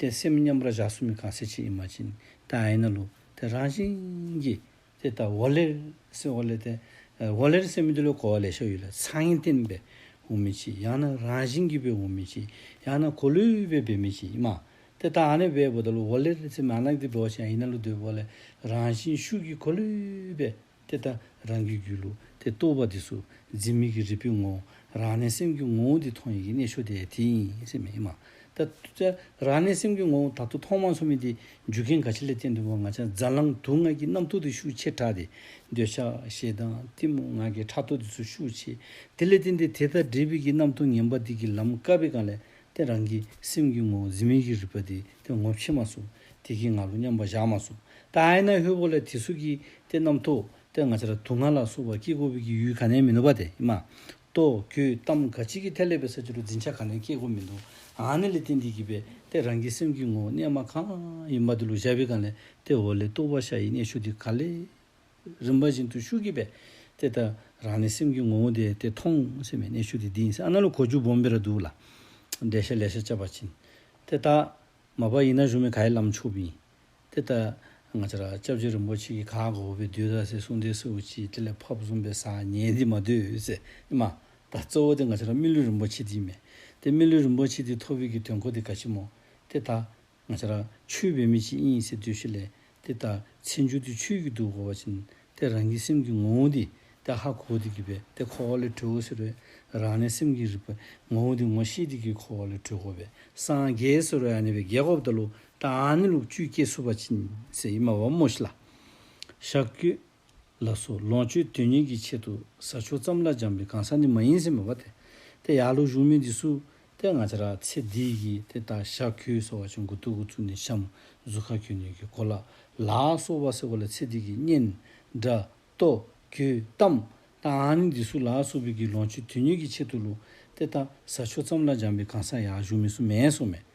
དེ་སེམས་མཉམ་པར་བཞག་སུ་མི་གང་སེ་ཆེ་ཡིན་མ་ཅིན་དེ་ཨ་ཡིན་ན་ལུ་དེ་རང་བཞིན་གྱིས་དེ་ད་བོ་ལེར་སེམས་བོ་ལེ་དེ་བོ་ལེར་སེམས་མི་དེ་ལོ་གོ་བ་ལས་ཤོ་ཡོད་ལ་ཚང་ཡིན་བསྟན་པས་བོ་མི་ཆེ་ཡང་ན་རང་བཞིན་གྱིས་བས་བོ་མི་ཆེ་ཡང་ན་གོ་ལུས་བས་བས་མི་ཆེ་ཡིན་མ་དེ་ད་ཨ་ནི་བས་བོ་ད་ལོ་བོ་ལེར་སེམས་མ་ནག་དེ་བོ་ཆེན་ཨ་ཡིན་ན་ལུ་དེ་བོ་ལེ་རང་བཞིན་ཤུགས་ཀྱིས་གོ་ལུས་བས། དེ་ལྟར་རང་གི་རྒྱུད་ལུགས་དེ་རྟོགས་པ་དེ་སུ་འཛིན་མིག་གི་རིལ་བུའི་ངོ་བོ་རང་གནས་སེམས་ཀྱི་ངོ་བོ་འདི་མཐོང་ཡི་གེ་གནས་ཆོས་དེ་དེ་ཡིན་སེམས་མེད་ཡིན་མ་ད་ལྟ། རང་གནས་སེམས་ཀྱི་ངོ་བོ་ད་ལྟ་མཐོང་མ་མཐོང་མིན་དེ་རྒྱུ་རྐྱེན་ག་ཆེ་ལས་གཏན་དུ་མ་ང་ཅག་རྫ་ལང་དུག་ལྔ་གྱི་རྣམ་རྟོག་དེ་ཤུགས་ཆེ་དྲགས་ཏེ་འདོད་ཆགས་ཞེ་སྡང་གཏི་མུག་ངང་གིས་ཕྲག་དོག་དེ་ཚོ་ཤུགས་ཆེ་དེ་ལས་གཏན་དེ་དེ་ལྟར་འདྲེས་པའི་གི་རྣམ་རྟོག་ངན་པ་དེ་གི་ལམ་དཀའ་བའི་གང་ལས་ཏེ་རང་གི་སེམས་ཀྱི་ངོ་བོ་འཛིན་མིག་གི་རིལ་བ་དེ་དེ་ངོ་ཕྱེ་མ་སོགས་དེ་གིས་ང་ལོ་སྙམ་པ་བཞག་མ་སོང། ད་ཨའི་ན་ཧོས་པོ་ལ་དེ་སུ་གིས་དེ་རྣམས་ཐོ་ཏེ་ང་ཅར་དུ་ང་ལ་སུ་བ་སྐྱེས་དགོས་པི་གི་ཡུལ་ག་ནས་མི་འདུག་པ་དེ་མ་གཏོགས་ཁྱོའི་གཏམ་ག་ཅིག་གིས་ཐལ་ལེ་པའི་ས་ཆུ་རུ་འཛིན་ཆ་ག་ནས་སྐྱེས་དགོས་མི་འདུག་ཨ་ནི་ལི་ཏི་འདི་གིས་པས་ཏེ་རང་གི་སེམས་ཀི་ངོ་བོ་གནས་མ་གང་ཡིན་པ་དེ་ལུག་ཤ་བི་ག་ལེ་ཏེ་འོ་ལེ་ཏུ་བ་ཤ་ཡི་གནས་ཤུགས་དེ་ག་ལེ་རིམ་པ་བཞིན་དུ་ཤུགས་གིས་པས་ཏེ་ད་རང་ནི་སེམས་ཀི་ངོ་བོ་དེ་ཏེ་མཐོང་སེམས་པའི་གནས་ཤུགས་དེ་འདི་ཡིན་སེ་ཨ་ན་ལི་གོ་ཆུ་བོམ་བི་ར་འདུག་ལ་འདྲེ་ཤ་ལེ་ཤ་བཅབ་པ་བྱིན་ཏེ་ད། མ་པ་ཡིན་ན་ཞུམ་མེད་གྷའི་ལམ་ཕྱུག་པི། དེ་ལྟ། ང་ཅཱ་ར ྋསྐྱབས་རྗེ་རིན་པོ་ཆེ་ཀྱིས་གྷའ་གོ་བི་དུས་ར་སའི་གསུང་སྡེ་སེའུ་སྐྱིད་དེ་ལས་ཕབ་གསུམ་པའི་སང་ཉིན་འདི་མ་བསྡུས་ཚེ་ཨེ་མ། ད་གཙོ་བོ་དེ་ང་ཅཱ་ར་སྨིན་ལུས་རིན་པོ་ཆེ་དེ་ཡིན་མེད། དེ་སྨིན་ལུས་རིན་པོ་ཆེ་དེའི་ཐོ་བི་གི་དོན་གོ་དེ་ག་ཆི་མོ། དེ་ལྟ། ང་ཅཱ་ར་ཆུའི་བི་མི་ཅི་ཨིན་སེ་དུས་ཤི་ལེ། དེ་ལྟར་ཚེ་འཇུག་དེ་ཆོས་ཀྱི་དུག་གོ་བ་བྱིན་ཏེ་རང་གི་སེམས་ཀྱི་ངོ་བོ་འདི་དེ་ཧ་གོ་བ་དེ་གི་བས་དེ་འཁོར་བ་ལས་གྲོལ་བ་ཟེར་བས་རང་གནས་སེམས་ཀྱི་རིག་པའི་ངོ་བོ་འདི་ངོ་ཤེས་དེ་གི་འཁོར་བ་ལས་གྲོལ་གོ་བས་སངས་རྒྱས་ཟེར་བས་ཨ་ནི་བས་རྒྱལ་གོ་བ་དེ་ལུགས་ཏྲ་ཨ་ནི་ལུགས་བཅུའི་སྐྱེ་གཟུགས་པ་བྱིན་ཟེར་ཨི་མ་བ་མོ་ཤི་ལ། ཞག་བརྒྱུད། ལ་སོགས་ལོངས་སྤྱོད་དོན་གཉེར་གྱི་ཆེད་དུ་ཟ་ཆོག་ཙམ་ལ་སྦྱངས་པའི་གང་ཟག་ནི་མ་ཡིན་སེམས་དཔའ་དེ། དེ་ཡར་ལུགས་གཞུང་མིན་འདི་སུ་སྟེ་ང་ཅག་རགས་ཚེ་འདི་ཡི་དེ་ལྟ་ཞག་ཁྱོད་སོ་བ་ཆུ་མགོ་སྟུ་གུ་ཚུར་ནས་བཤམས་གཟུགས་ཁ་ཁྱོད་ནུས་ཀྱི་གོ་ལ་ལགས་སོ་བ་ཟེར་བ་ལ་ཚེ་འདི་ཀྱི་གཉེན། དགྲ། ལྟོ། གོས། གཏམ། དང་ནི་འདི་སུ་ལགས་སོ་བོད་ཀྱི་ལོངས་སྤྱོད་དོན་གཉེར་གྱི་ཆེད་དུ་ལུགས་དེ་ལྟ་ཟ་ཆོག་ཙམ་ལ་སྦྱངས་པའི་གང་ཟག་ཡར་གཞུང་མིན་སུ་མེད་སོ་མེད།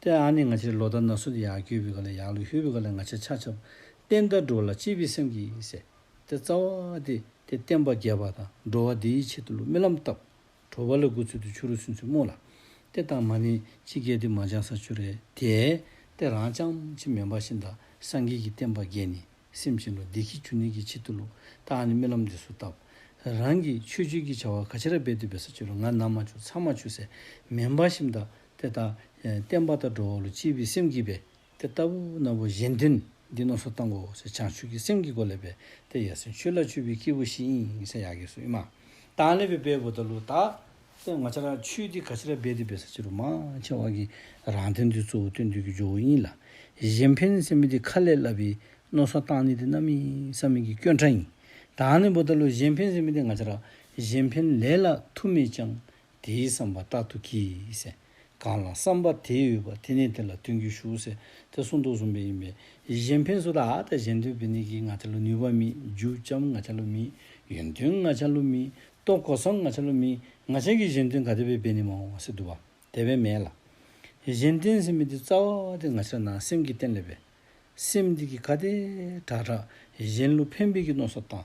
ཏེ་ཨ་ནི་ང་ཅི་ལོ་ད་ན་སུ་དེ་ཡག་གྱོད་བི་ག་ལ་ཡག་ལུ་ཤུ་བི་ག་ལ་ང་ཅི་ཆ་ཆབ་བསྟན་ད་འགྲོ་ལ་ཅི་བི་སེམས་ཀྱིས་ཟེ་ཏེ་རྩ་བ་དེ་དེ་བསྟན་པ་རྒྱས་པ་དང་འགྲོ་བ་དེ་ཡི་ཆེད་དུ་ལུ་རྨི་ལམ་བཏབ་གྲོ་བ་ལ་དགུ་ཚུལ་དུ་ཆུ་རུ་སུན་ཚུལ་རྨོ་ལ་ཏེ་བཏང་མ་ནི་ཅི་སྐད་དེ་མ་ཅང་ས་ཆུ་རེ་དེ་ཏེ་རང་ཅང་ཅི་མེ་འབའ་བཞིན་ད་སངས་རྒྱས་ཀྱི་བསྟན་པ་རྒྱས་ནི་སེམས་ཅན་ལུ་དེ་ཁྱི་གྱུ་ནི་གྱི་ཆེད་དུ་ལུ་ཏེ་ཨ་ནི་རྨི་ལམ་དེ་སུ་བཏབ་རང་གི་ཆོས་སྤྱོད་ཀྱི་བྱ་བ་ག་ཅི་ར་བེ་དུ་བེ་ས་ཆུ་རུ་ང་ན་མ་ཆུ་ཚ་མ་ཆུ་ཟེ་མེ་འབའ་བཞིན་ད་དེ་དང། བརྟན་པ་དང་འགྲོ་བ་ལ་སྐྱིད་པའི་སེམས་སྐྱིད་པས། དེ་ལྟ་བུ་རྣམས་བ་གཞན་དོན་འདི་རྣམས་སུ་བཏང་གོ། བྱང་ཆུབ་ཀྱི་སེམས་ཀྱི་སྒོ་ལས་པས་ཏེ་ཡ་སེ་ཆུ་ལ་ཆུད་པའི་སྐྱེས་བུ་བཞི་ཨིན་ས་ཡ་གས་སུ་ཨི་མ། དང་ལས་པའི་བས་བུ་དང་ལུ་དག། སེམས་ང་ཆ་ལ་ཆུད་དེ་ག་ཆི་ལ་སྦས་ཏེ་སྦས་ས་ཆི་རུ་མ་ཆེ་བ་གི། རང་དོན་འདི་གཙོ་བོ་སྟོན་དུས་ཀྱི་ཇོ་བོ་ཨིན་ལ། གཞན་ཕན་སེམས་མི་དེ་ཁ་ལས་བསླབ་པའི། རྣོ་སོ་བཏང་ནི་དེ་རྣམ་ཨི་ས་མིག་གི་སྐྱོན་ཕྲ་ཡིན། དང་ལས་བུ་དང་ལུ་གཞན་ཕན་སེམས་མི་དེ་ང་ཆ་ལ། གཞན་ཕན་ལས་ལ་ཐུ་མེད་ཅིང། དེའི་བསམ་པ་རྟག་ཏུ་གྱིས། གང་ལ་བསམ་པ་དེ་ཡོད་པ་དེ་ནི་དེ་ལ་སྟོན་རྒྱུ་ཞུགས། དེ་གསུང་རྟོག་གསུམ་པས་ཡིན་པས། གཞན་ཕན་སོ་དག་དང་གཞན་དོན་བུད་ནས་ཀྱི་ང་ཆ་ལུ་ནུས་པ་མིན། རྒྱུ་ལྕམ་ང་ཆ་ལུ་མིན། ཡོན་ཏན་ང་ཆ་ལུ་མིན། རྟོག་གོ་བསམ་ང་ཆ་ལུ་མིན། ང་ཆ་གི་གཞན་དོན་ག་དེ་བས་བས་ནི་མ་འོངས་བ་སེ་འདུ་བ་དེ་བས་མེད་ལ། གཞན་དོན་སེམས་མེད་དེ་རྩ་བ་བ་དེ་ང་ཆ་ན་སེམས་ཀྱི་རྟེན་ལས་པས། སེམས་དེ་གི་ག་དེ་དྲག་དྲག་གཞན་ལུ་ཕན་བས་ཀྱི་གནོད་སོགས་དང།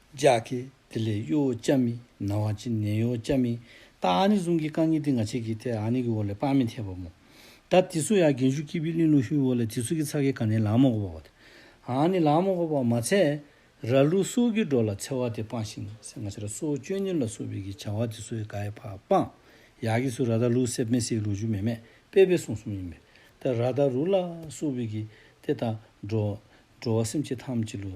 ལྗགས་ཀྱི། དེ་ལས་གཡོ་བོ་ལྕགས་མི་ན་བ་ཅི་ནས་གཡོ་བོ་ལྕགས་མི་ད་ཨ་ནི་ཟུང་གི་རྐང་གཉིས་ཏི་ང་ཆེ་གི་ཐད་ཨ་ནི་གི་འོ་ལས་པགས་མི་འཐད་པ་མོ། ད་དི་སུ་ཡ་རྒན་ཞུ་སྐྱིད་པི་གླིང་ལུག་ཤུའི་འོ་ལས་དི་སུ་གི་ཚ་གི་ག་ནི་ལ་མོ་གོ་བ་བ་ཐད་ཨ་ནི་ལ་མོ་གོ་བ་མ་ཚད། ར་ལུག་སོ་གི་འགྲོ་ལ་ཚེ་བ་དེ་སྤངས་ཤིང་སེ་ང་ཆ་ར་སོ་བཅོས་གཉེར་ལ་སོ་བི་གི་བྱ་བ་དི་སུ་ཡ་ག་ཡ་བ་སྤངས། ཡ་གི་སུ་ར་ད་ལུག་སེ་མེ་སེའི་ལུག་ཞུ་མེ་མེད་པེ་པེ་སོང་གསུམ་ཡིན་པས་ད་ར་ད་རུ་ལ་སོ་བི་གི་ཐད་ད་འགྲོ་བ་སེམས་ཅི་ཐམས་ཅི་ལུག་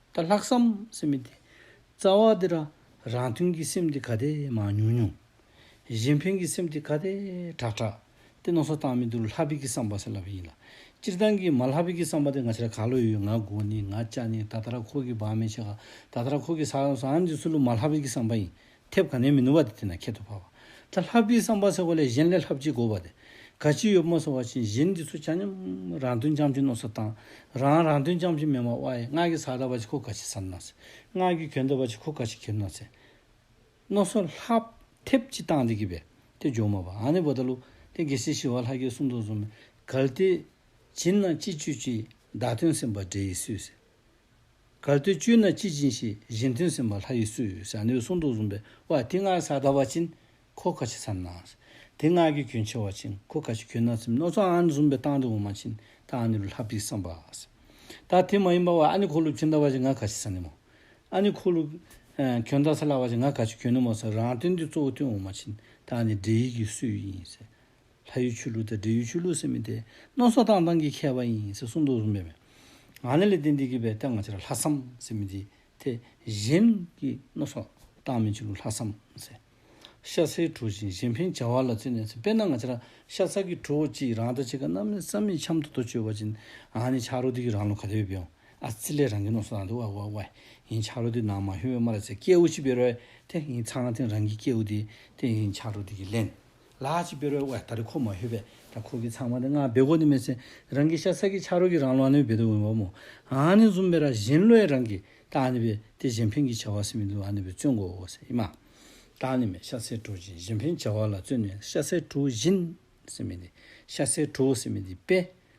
ད་ལྷག་བསམ་སེམས་མི་བདེ། རྩ་བ་འདི་རང་རང་མཐུན་གྱི་སེམས་འདི་ག་དེ་མང་ཉུང་ཉུང། གཞན་ཕན་གྱི་སེམས་འདི་ག་དེ་དྲག་དྲག། དེ་ནོར་སོ་བཏང་མི་འདུག་ལྷ་བིད་ཀྱི་བསམ་པ་སེམས་ལྷ་བིད་ཡིན་ལ། སྤྱིར་བཏང་གི་མ་ལྷ་བིད་ཀྱི་བསམ་པ་དེ་ང་ཕྱིར་ག་ལོ་ཡོད་ང་དགོ་ནི་ང་ལྕག་ནི་ད་ལྟ་ར་ཁོག་གི་བག་མེད་ཆེ་ག་ད་ལྟ་ར་ཁོག་གི་ས་ས་འདི་སུ་ལུ་མ་ལྷ་བིད་ཀྱི་བསམ་པ་ཡིན་ཐེབས་ག་ནས་མི་ནུབ་པ་དེ་དེ་ན་ཁྱད་དུ་འཕགས་པ། ད་ལྷག་པའི་བསམ་པ་ཟེར་བ་ལས་གཞན་ལས་ལྷག་ཅིག་དགོས་པ་དེ་ག་ཅི་ཡོད་མ་གསུང་བ་བཞིན་གཞན་འདི་ཚོ་ཆ་སྙོམས། རང་དོན་ཅམ་ཆུང་ནོ་སོ་དང། རང་རང་དོན་ཅམ་ཆུང་མེད་མ་བ་ཡི་སྔགས་ཀྱི་ས་ད་བ་ཅི་ཁོ་ག་ཅི་ཟ་ནོ་ཚེ། སྔགས་ཀྱི་གྱོན་ད་བ་ཅི་ཁོ་ག་ཅི་གྱེར་ནོ་ཚེ། ནོ་སོ་ལྷག། ཐེབས་ཅི་བཏང་འདི་གི་བས་དེ་ཇོ་མོ་བ་ཨ་ནི་བོ་ད་ལུ་ཏེ་གེ་སི་ཤི་བ་ལྷ་ཀྱི་སུམ་མདོ་ཟུམ། གལ་ཏེ། བྱིན་ན་ཅི་བཅོས་ཅི་བདག་དོན་སེམས་དཔའ་འདྲེ་ཡི་སུས་ཟེར། གར་སྟོད་བཅུད་ན་སྐྱིད་ཅིང་ཞི་བཞིན་མཐུན་སེམས་པ་ལྷ་ཡི་སུ། ཞྭ་སྣོད་གསུང་དུ་བཟུང་པའི་བ་ཏི་སྔགས་གསར་དར་བ་ཅིན་ཁོ་ཁ་ཆེ་ཚར་ན། དེ་སྔགས་ཀྱི་གྱོན་ཆེ་བ་ཅིན་ཁོ་ཁ་ཆེ་གྱོན་ན་ཚིམ་ནོ་ཚོ་ཨ་ནི་བཟུང་པའི་སྟངས་དེ་འོ་མ་ཅིན་ད་ཨ་ནི་རུ་ལྷ་བིས་སམ་བ། ད་དེ་མ་ཡིན་པ་བ་ཨ་ནི་ཁོ་ལུ་གྱོན་དར་བ་ཅིན་ང་ཁ་ཆེ་ཚར་ནི་མོ། ཨ་ནི་ཁོ་ལུ། གྱོན་དར་ཚར་ལ་བ་ཅིན་ང་ཁ་ཆེ་གྱོན་ནི་མོ་ཚར་རང་དོན་དེ་གཙོ་བོ་དོན་འོ་མ་ཅིན་ད་ཨ་ནི་འདྲེ་ཡིག་གི་སུའི་ཡིན། ལྷ་ཡུལ་ཆོས་ལུགས་དང་འབྲེལ་ཡུལ་ཆོས་ལུགས་ཟེར་མི་དེ་ནོར་སོག་ཏང་ཏང་གི་ཁྱད་པ་ཡིན་ཟེར་གསུངས་འདུག་སྨྲས་པས། ང་ནི་ལས་དེ་འདི་གི་བའི་སྟེང་ང་ཅི་ར་ལྷ་བསམ་ཟེར་མི་དེ་དེ་གཞན་གྱི་ནོར་སོག་ཏང་མིན་ཆོས་ལུགས་ལྷ་བསམ་ཟེར། ཤ་ཚའི་གྲོ་བཞིན་གཞན་ཕན་བྱ་བ་ལ་བརྩོན་ནས་ཟེར་དཔེར་ན་ང་ཅི་ར་ཤ་ཚ་གི་གྲོ་བོ་གཅིག་རང་ལྟ་བྱེད་ཀ་གནམ་ནས་ས་མིག་འཁྱམ་དུ་དོ་བཅོས་བ་བྱིན་ཨ་ནི་ཕྱག་རོ་དེ་གི་རང་ལོ་ག་དེ་བས་བེའོ་ཨ་ཙི་ལས་རང་གི་ནོར་སོག་ཏང་དེ་བ་བ་བ་ཡིན་ཕྱག་རོ་དེ་ནང་མ་ཤོར་བས་མ་ར་ཚའི་སྐྱེ་བོ་ཞིག་བེར་བས་དེ་ཡིན་ཚང་ཐེང་རང་གི་སྐྱེ་བོ་དེ་དེ་ཡིན་ཕྱག་རོ་དེ་གི་ལན། ལགས་ཀྱི་དཔེ་རོལ་བའི་ད་རེ་ཁོ་མ་ཤོད་པས་ད་ཁོ་གིས་ཚང་མ་དེ་སྔར་སྦེ་གོ་ནི་མེད་ཚེ་རང་གིས་ཤ་ས་གིས་ཆག་རོ་གིས་རང་ལོག་ནི་བེ་དུ་འོན་བ་མོ་ཨང་ནི་འཛུམ་པའི་ར་བཞིན་བློས་རང་གིས་ད་ནི་བེ་དེ་གཞན་ཕན་གིས་བྱ་བ་སེ་མི་འདུག་ཨ་ནི་བེ་བརྩོན་དགོ་འོ་སེ་ཨི་མ། ད་ནི་མེ་ཤ་སའི་གྲོ་བཞིན་གཞན་ཕན་བྱ་བ་ལ་བརྩོན་ནས་ཤ་སའི་གྲོ་བཞིན་སེ་མི་འདི་ཤ་སའི་གྲོ་སེ་མི་འདི་བེ་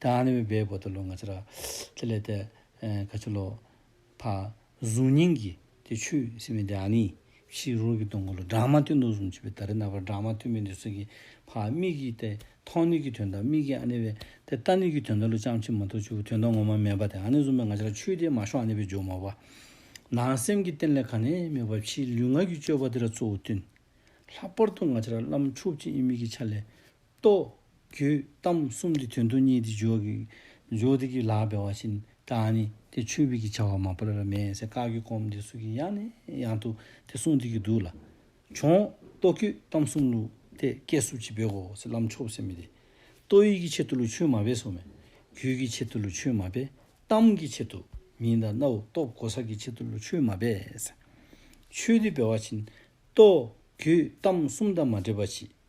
དང་ནི་བའི་བོ་དེ་ལོ་ང་ཚེ་ར། དེ་ལས་དེ་ག་ཆུ་ལོ། ཕ། གཟུགས་བརྙན་གྱི་དེ་ཆུ་སེ་མི་དེ་ཨ་ནི། ཤིག་རོ་གི་དུང་གོ་ལོ་སྦྲང་མ་ཏི་ནུ་གཟུང་བྱེད་པའི་ད་རི་ན་བར་སྦྲང་མ་ཐུ་མི་དེ་སུ་གི་ཕ་མིག་གི་དེ་ཐོང་ནི་གི་དོན་དང་མིག་གི་ཨ་ནི་བའི་དེ་ཏཱ་ནི་གི་དོན་དང་ལུ་ཅང་ཕྱི་མ་ཐུ་ཆུ་བོ་དོན་དང་ངོ་མ་མེད་པ་དེ་ཨ་ནི་གཟུང་བའི་ང་ཚེ་ར་ཆུ་དེ་མ་ཤོང་ཨ་ནི་བའི་ཇོ་མོ་བ། ནང་སེམས་ཀྱི་རྟེན་ལས་ག་ནི་མེད་པ་ཕྱིའི་ལུས་ངག་གི་སྤྱོད་པ་དེ་ར་གཙོ་བོ་བསྟུན། ལྷག་པར་དུ་ང་ཚེ་ར་བླ་མ་མཆོག་སྤྱི་དབྱིངས་མིག་གི་ཆ་ལས། ལྟོ། རྒྱུད་གཏམ་གསུམ་གྱི་དོན་དུ་གཉིས་ཏེ་ཇོ་ཀི། ཇོ་ཏི་ཀི་ལགས་པའི་བ་བཞིན་དྲང་ནི། དེ་ཆོས་བིད་ཀྱི་བྱ་བ་མ་པར་མེ་སེ་བཀག་རྒྱུ་སྐོམ་དེ་སུ་ཀི་ཡང་ནི་ཡང་དུ་དེ་གསུངས་དེ་ཀི་འདུག་ལ། བྱུང། ལྟོ་རྒྱུད་གཏམ་གསུམ་ལུགས་དེ་སྐད་སུ་ཅི་བོད་གོ་སི་ལམ་ཆོག་སེ་མི་དེ། ལྟོ་ཡིག་གི་ཆེད་དུ་ལུགས་ཆོས་མ་པས་སོ་མེ། རྒྱུད་ཀི་ཆེད་དུ་ལུགས་ཆོས་མ་པས་གཏམ་གི་ཆེད་དུ་མིན་ད་ནའོ་ལྟོ་གོ་ས་ཀི་ཆེད་དུ་ལུགས་ཆོས་མ་པས། ཆོས་དེ་བའི་བ་བཞིན་ལྟོ། རྒྱུད་གཏམ་གསུམ་དང་མ་འདྲེས་པ་གྱིས།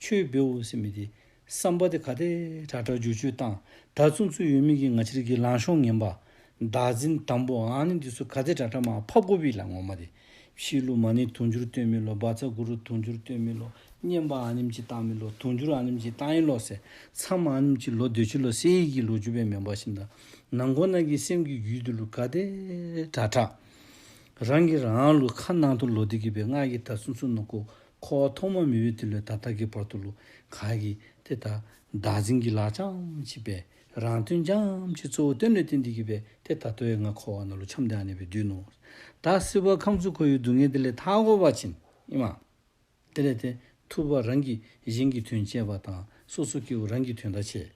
ཆོས་འབེལ་འོ་སེ་མི་དེ། བསམ་པ་དེ་ག་དེ། དྲ་གྲ་འཇུ་འཇུ་བཏང། ད་བཙུན་བཙུན་ཡོད་མི་གི་ང་ཕྱིར་གི་ལང་ཤོང་ངན་པ། བདག་འཛིན་དམ་པོ་ཨང་ནི་འདི་ཚོ་ག་དེ་དྲ་གྲ་མ་ཕ་གོ་བི་ལ་ངོ་མ་དེ། བཤིས་ལུག་མ་ནི་དུང་འཇུར་སྟོན་མི་ལོ་སྦ་ཚ་གུ་རུ་དུང་འཇུར་སྟོན་མི་ལོ་སྙན་པ་ཨང་ནིམ་ཅི་བཏང་མི་ལོ་དུང་འཇུར་ཨང་ནིམ་ཅི་བཏང་ཡིན་ལོ་སེ་མཚམས་ཨང་ནིམ་ཅི་ལོ་འདོད་ཆི་ལོ་སེ་ཡིག་གི་ལོ་ཅུ་པའི་མེ་འབར་བཞིན་དང་ནང་གོ་ནང་གི་སེམས་གི་རྒྱུད་དུ་ལུག་ག་དེ། དྲ་གྲ། རང་གི་རང་ལུག་ཁ་ནང་དུ་ལོ་དེ་གི་པའི་སྔགས་ཀྱི་ད་བཙུན་བཙུན་ནོ་གོ་ཁོ་བོ་ཐོག་མ་མི་འོས་དེ་ལོས་ད་ལྟ་གི་བར་དུ་ལུ་ག་གིས་དེ་ལྟར་བདག་འཛིན་གྱི་ལག་ཆའམ་བྱིས་པས་རང་དོན་བྱའམ་ཅི་གཙོ་བོ་དོན་ལས་དོན་འདི་གི་བས་དེ་ད་ལྟོའི་ང་ཁོ་བ་ན་ལུ་འཁྱམས་དེའང་གནས་པའི་དུས་ནོ། ད་སྲིད་བར་ཁམས་ཚུལ་ཁོ་ཡུལ་སྡུག་བསྔལ་དེ་ལས་ཐར་འགོ་བར་བྱིན་ཨེ་མ། དེ་ལས་དེ་ཐུབ་བར་རང་གིས་གཞན་གྱི་དོན་བྱས་པ་དང་སོ་སོ་སྐྱེ་བོ་རང་གི་དོན་ད་བྱས།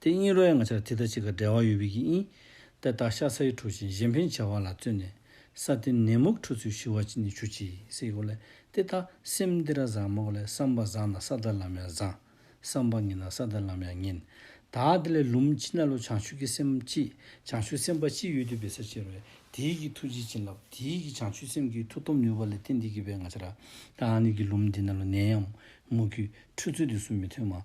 དེ་གཉིས་རོ་ཡང་ང་ཆར་དེ་ལྟར་ཅིག་ག་འབྲེལ་བ་ཡོད་བི་གི་ཨིན། དེ་དག་ཤ་ཚ་ཡི་འཁྲུ་ཞིང་གཞན་ཕན་བྱ་བ་ལ་བརྩོན་ནས། ས་དེ་ནད་མུག་འཁྲུ་ཚུལ་ཞི་བ་ཅི་ནི་ཆུ་ཅིག་སེ་གོ་ལེ། དེ་དག་སེམས་འདི་ར་བཟང་མོ་གོ་ལེ་བསམ་པ་བཟང་ན་ས་དེ་ལམ་ཡང་བཟང། བསམ་པ་ངན་ན་ས་དེ་ལམ་ཡང་ངན། ད་དེ་ལས་ལུམ་ཅི་ན་ལོ་བྱང་ཆུབ་ཀྱི་སེམས་ཅི། བྱང་ཆུབ་སེམས་དཔའ་ཅི་ཡོད་དུས་བི་ས་ཅེར་བས་དེའི་གི་ཐུགས་རྗེ་བྱིན་རླབས་དེའི་གི་བྱང་ཆུབ་སེམས་ཀྱི་ཐུགས་སྟོབས་ནུས་པ་ལས་དེ་འདི་གི་བས་ང་ཆ་ར། ད་ནི་གི་ལུམ་འདི་ན་ལོ་ནད་ཡང་མུག་གི་འཁྲུ་ཚུལ་དེ་སུ་མི་ཐོན་མ།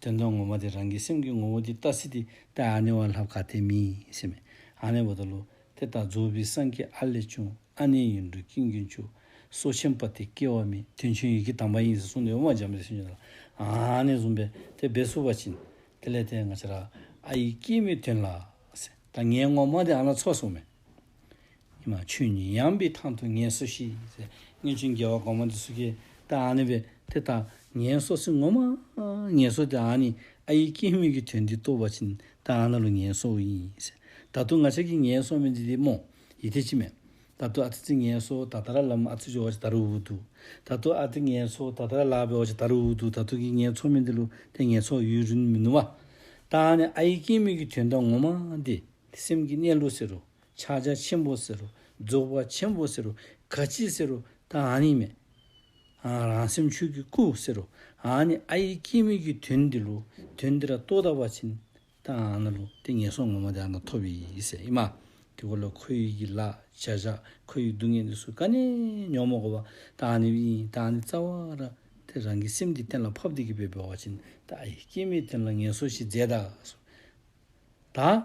དོན་དམ་ངོ་མ་དེ་རང་གི་སེམས་ཀྱི་ངོ་བོ་འདི་ལྟ་སི་ཏི། ཏེ་ཨ་ནེ་བ་ལྷ་བཀའ་དེ་མི་ཡིན་སེ་མེ་ཨ་ནེ་བ་ད་ལོ། དེ་ལྟར་རྫོགས་པའི་སངས་རྒྱས་ཨ་ལས་བྱུང་ཨ་ནེ་ཡིན་འགྲོ་ཀྱིན་ཀྱི་མཆུ། སོ་ཆེན་པ་དེ་སྐྱེ་བ་མེད་དོན་ཆུང་ཡི་གེ་དམ་པ་ཡིན་ཟེར་གསུངས་ཏེ་དབུ་མ་འཇམ་དཔལ་སེམས་ཅན་ལ་ཨ་ནེ་བཟུང་བས་དེ་སྦས་སུ་བ་བྱིན། དེ་ལས་དེ་ང་ཅི་ར་ཨ་ཡིས་སྐྱེས་མེད་དོན་ལ། ད་ངའི་ངོ་མ་དེ་ཨ་ན་ཚོགས་སོ་མེ། ཆོས་ཉིད་ཡངས་པའི་ཐང་དུ་ངལ་བསོ་ཤིས། སྔོན་བྱོན་རྒྱལ་བ་གོང་མ་འདི་སུ་ཁྱེད་ལྟ་ཨ་ནི་བས་དེ་ལྟ་ངལ་བསོ་སི་ངོ་མ་ངལ་བསོ་དེ་ཨ་ནི་ཨ་ཡིག་སྐྱེས་དམིགས་ཀྱི་དོན་འདི་ལྟོ་བ་ཕྱིན་ད་ཨ་ན་ལོ་ངལ་བསོ་འུ་ཡིན། ད་དུ་ང་ཅག་གིས་ངལ་བསོ་མི་འདི་དེ་མོ་ཡི་དེ་ཅི་མེད། ད་དུ་ཨ་ཐི་ཙི་ངལ་བསོ་ད་ད་ར་ལམ་ཨ་ཚུ་ཅི་འོ་ཅི་ད་རུ་འུ་འདུག་ད་དུ་ཨ་ཏི་ངལ་བསོ་ད་ད་ར་ལག་པའི་འོ་ཅི་ད་རུ་འུ་འདུག་ད་དུ་གིས་ངལ་བསོ་མི་འདི་ལོ་དེ་ངལ་བསོ་ཡུན་རིན་མི་ནུ་བ། ད་ཨ་ནི་ཨ་ཡིག་སྐྱེས་དམིགས་ཀྱི་དོན་ད་ངོ་མ་འདི་དེ་སེམས་ཀྱི་གནས་ལུགས་ཟེར་རོ། ཕྱག་རྒྱ་ཆེན་པོ་ཟེར་རོ། རྫོགས་པ་ཆེན་པོ་ཟེར་རོ། ག་ཅི་ཟེར་རོ། ད་ཨ་ནི་མེད། རང་སེམས་ཆོས་ཀྱི་སྐུ་ཟེར་རོ། ཨ་ནི་ཨ་ཡིག་སྐྱེ་མེད་ཀྱི་དོན་འདི་ལོ། དོན་འདི་ལ་རྟོག་དག་པ་ཕྱིན། ད་ཨ་ནི་ལོ། དེ་ངན་སོང་ངོ་མ་དེ་ཨ་ནི་ཐོབ་ཡི་ཡིད་སེམས་ཨེ་མ། དེ་སྐོར་ལ་ཁོ་ཡིག་གི་ལ་བྱ་བཞག་ཁོ་ཡིག་སྡུག་བསྔལ་འདི་སུ་ག་ནས་ཉོན་མོངས་གོ་བ། ད་ཨ་ནི་དབྱིངས་ད་ཨ་ནི་རྩ་བ་ར། དེ་རང་གི་སེམས་འདི་གཏན་ལ་ཕབ་སྟེ་གི་བའི་བོ་བ་ཕྱིན། ད་ཨ་ཡིག་སྐྱེ་མེད་དོན་ལ་ངན་སོང་ཞེས་རྫས་དག་གསུངས། ད།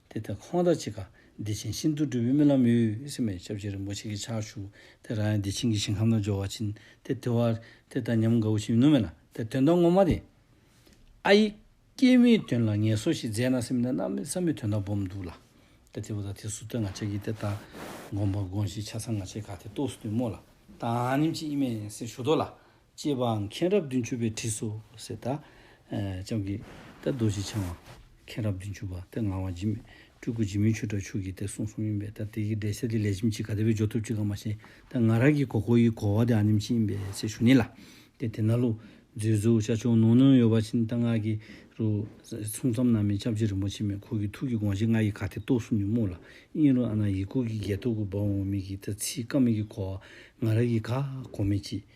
དེ་ལྟར་ཁོང་དང་ཅི་དགའ་བདེ་ཆེན་ཤིན་ཏུ་འགྲོ་བའི་རྨི་ལམ་ཡོད་སྲིད་མོད་ཞབས་རྗེས་རིན་པོ་ཆེ་གི་ཕྱག་ཞུ་དེ་རང་ཡང་བདེ་ཆེན་གྱི་ཞིང་ཁམས་ན་སྦྱོར་བ་ཕྱིན་ཏེ་དེ་བར་དེ་ལྟར་ཉམས་དགའ་བོ་ཞིག་མི་ནུབ་མེད་ལ་དེ་དོན་དག་ངོ་མ་རེད། ཨ་ཡེ། སྐྱེས་མའི་དོན་ལ་ངལ་གསོ་ཞིག་མཛད་ན་སེམས་ནས་གནམ་མི་ས་མི་དོན་དག་སྦོམ་འདུག་ལ། དེ་དེ་བོ་ད་དེ་སུ་སྟོན་ང་ཅག་གིས་དེ་ལྟར་དགོངས་པ་དགོངས་ཤིག་ཆ་ཚང་ང་ཅག་གི་ག་དེ་རྟོགས་སུ་དུ་མོ་ལ། དང་ནིམ་ཅི་ཨི་མེད་ཡིན་སྲིད་ཞུ་དོ་ལ། ཅེས་པའང་མཁྱེན་རབ་བདུན་ཅུ་པའི་བྲིས་སོ། ཟེར། ལྕམ་གྱི། ཏེ་རྡོ་རྗེ་འཆང་བ། མཁྱེན་རབ་བདུན་ཅུ་པ། ཏེ་ངག་དབང་འཇིམ། སྤྲུལ་སྐུ་འཇིམ་མིན་ཆོས་གྲགས་ཆོས་ཀྱི་ཏེ་གསུང་གསུམ་ཡིན་པས་ཏེ་དེ་ཡི་འགྲེལ་བཤད་དེ་ལས་ཁྱིམ་གཅིག་ག་དེ་བས་སྦྱོར་ཐུབ་ཅི་གང་མ་ཤེས། ཏེ་ང་རང་གི་གོ་གོ་ཡི་གོ་བ་དེ་ཨ་ནེམ་ཅི་ཡིན་པས་ཚེ་ཞུགས་ནི་ལ། ཏེ་དེ་ན་ལུགས། མཛོད་གཟུགས་ཤ་ཆུང་ནུང་ནུང་ཡོད་པ་ཕྱིན་ཏེ་སྔགས་ཀྱི། རུ། གསུང་ཙམ་ན་མི་ཁྱབ་རྗེ་རིན་པོ་ཆེ་མའི་འཁོར་གྱི་ཐུགས་ཀྱི་དགོངས་གཞི་ལྔ་ཡི་ག་དེ་རྟོགས་སུ་ནི་རྨུགས་ལ། དབྱིངས་རུ་ཨ་ན་ཡི་ཀུ་གི་རྒྱལ་ཐུགས་ཀུ་འབབ་འོང་མིག་གི་ཏེ་ཚིག་སྐམ་མིག་གི་གོ་བ། ང་རང་གི་ག། གོ་མེད་ཅི།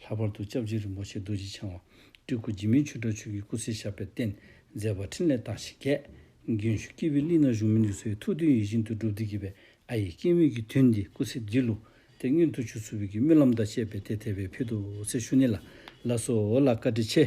ལྷག་པར་དུ་སྐྱབས་རྗེ་རིན་པོ་ཆེ་རྡོ་རྗེ་འཆང་བ་སྤྲུལ་སྐུ་འཇིགས་མེད་ཆོས་གྲགས་ཆོས་ཀྱི་སྐུ་ཚེ་ཞབས་པད་བརྟན་མཛད་པ་ཕྲིན་ལས་རྟགས་བཞི་རྒྱས། རྒྱུན་ཞུགས་སྐྱེས་བུའི་གླིང་ན་གཞུང་མི་འདུས་སོ་ཡི་ཐུགས་དོན་ཡིད་བཞིན་དུ་འགྲུབ་བདེ་སྐྱིད་པའི་ཨ་ཡེ་སྐྱེས་དམན་གྱི་དོན་འདི་སྐུ་ཚེ་འདི་ལུགས་དེ་སྔོན་དུ་ཆུ་ཚོད་བོད་ཀྱི་སྨོན་ལམ་དང་བཅས་པའི་དེ་དེ་བས་ཕུལ་དུ་བསེ་ཤུ་ནེ་ལ་ལ་སོགས་ལ་བཀའ་དྲིན་ཆེ།